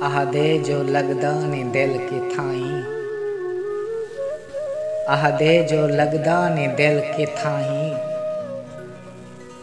آہدے جو لگدا نی دل کتھائیں آہدے جو لگدا نی دل کتھائیں۔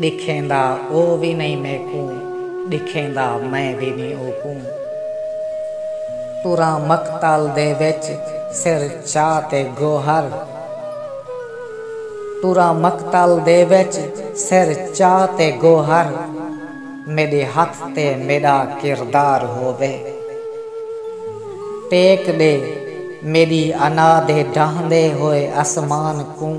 ݙکھیندا او وی نئیں میکوں ݙکھیندا میں وی نئیں اوکوں تراں مقتل دے وچ سر چا تے گوہر تراں مقتل دے وچ سر چا تے گوہر میݙے ہتھ تے میݙا کردار ہووے ٹیک ݙے میݙی انا دے ڈاہندے ہوئے اسمان کوں۔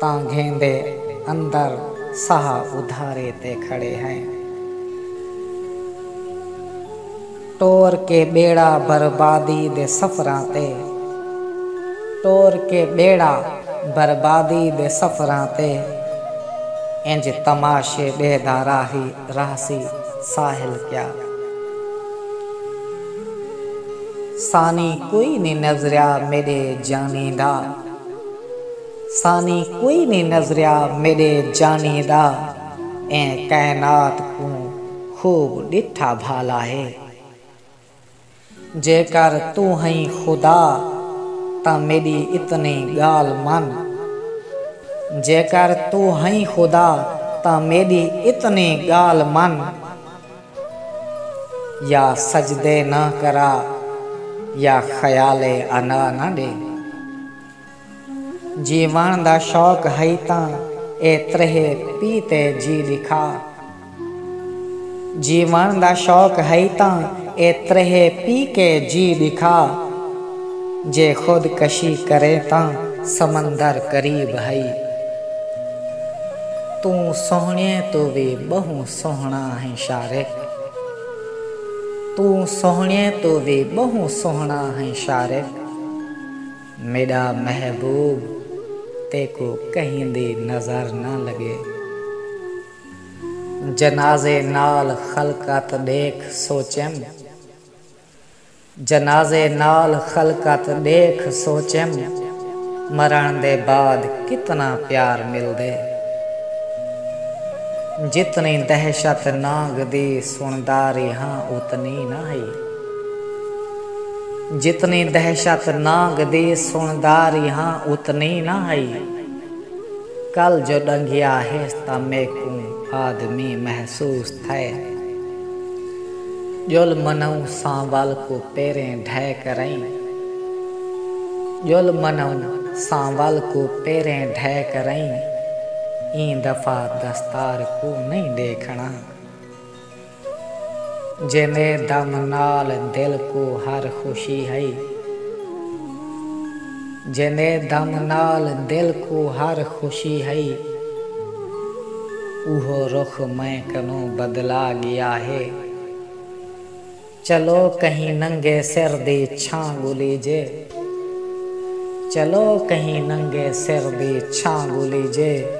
تاں گھیندے اندر ساہ ادھارے تے کھڑے ہئیں۔ ٹور کے ٻیڑا بربادی دے سفراں تے ٹور کے ٻیڑا بربادی دے سفراں تے انج تماشے ݙیہدا راہی راہسی ساحل کیا سانی کوئی نی نظریا میݙے جانی دا۔ ثانی کوئی نی نظریا میݙے جانی دا ایں کائنات کوں خوب ݙٹھا بھالا ہے جیکر توں ہئیں خدا تاں میݙی اتنی ڳالھ من جیکر توں ہئیں خدا تاں میݙی اتنی ڳالھ من یا سجدے نہ کرا یا خیال انا نہ ݙے۔ جیوݨ دا شوق ہئی تاں اے تریہہ پی تے جی ݙکھا۔ جیوݨ دا شوق ہئی تاں اے تریہہ پی کے جی ݙکھا۔ جے خود کشی کریں تاں سمندر قریب ہئی۔ توں سوہݨیے توں وی ٻہوں سوہݨا ہیں شارے۔ توں سوہݨیے توں وی ٻہوں سوہݨا ہیں شارے۔ میݙا محبوب تیکوں کہیں دی نظر نہ لڳے۔ جنازے نال خلقت ݙیکھ سوچیم۔ جنازے نال خلقت ݙیکھ سوچیم۔ مرݨ دے بعد کتنا پیار ملدے۔ جتنی دہشت نانگ دی سݨدا ریہاں اتنی نہ ہئی۔ جتنی دہشت ناگ دی سݨدا ریہاں اتنی نہ ہئی۔ کل جو ݙنگھیا ہیس تاں میکوں آدمی محسوس تھئے۔ ڄل منوں سانول کوں پیریں ڈھے کرئیں۔ ڄل منوں سانول کوں پیریں ڈھے کرئیں۔ ایں دفعہ دستار کوں نئیں ݙیکھݨا۔ جیندے دم نال دل کوں ہر خوشی ہئی۔ جیندے دم نال دل کوں ہر خوشی ہئی۔ اوہو رخ میں کنوں بدلا گیا ہے۔ چلو کہیں ننگے سر دی چھاں گھلیجے۔ چلو کہیں ننگے سر دی چھاں گھلیجے۔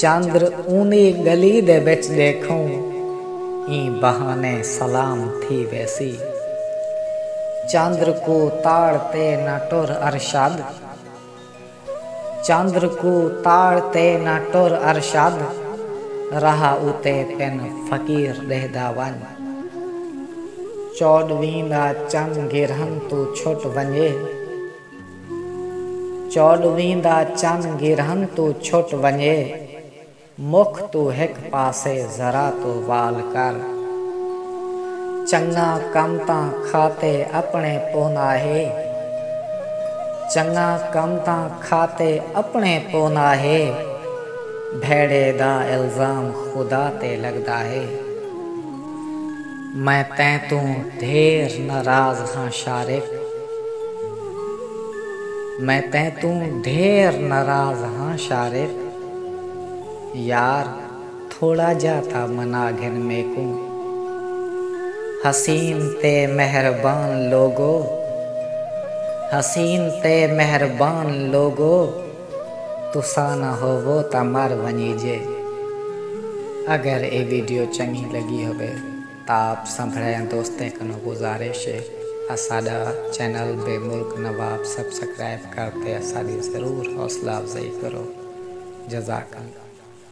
چندر اونی گلی دے وچ ڈیکھوں ایں بہانے سلام تھی ویسی۔ چندر کوں تاڑ تے نہ ٹر ارشد۔ چندر کوں تاڑ تے نہ ٹر ارشد راہ اتے پن فقیر ڈیہدا ونج۔ چوڈویں دا چن گرہن توں چھٹ ونجے۔ چوݙویں دا چن گرہن توں چھٹ ونڄے، مکھ توں ہک پاسے ذرا توں وال کر۔ چنڳاں کم تاں کھاتے اپݨے پوناہے، چنڳاں کم تاں کھاتے اپݨے پوناہے، بھیڑے دا الزام خدا تے لڳداہے۔ میں تیں توں ڈھیر ناراض ہاں شارق۔ میں تیں توں ڈھیر ناراض ہاں شارق۔ یار تھوڑا جا تاں منا گھن میکوں۔ حسین تے مہربان لوگو حسین تے مہربان لوگو۔ تساں نہ ہووو تاں مر ونجیجے۔ اگر اے ویڈیو چنگی لگی ہووے تاں آپ سبھڑیاں دوستیں کنوں گزارش اے اساڈا چینل بے ملک نواب سبسکرائب کر تے اساڈی ضرور حوصلہ افزائی کرو۔ جزاک اللہ۔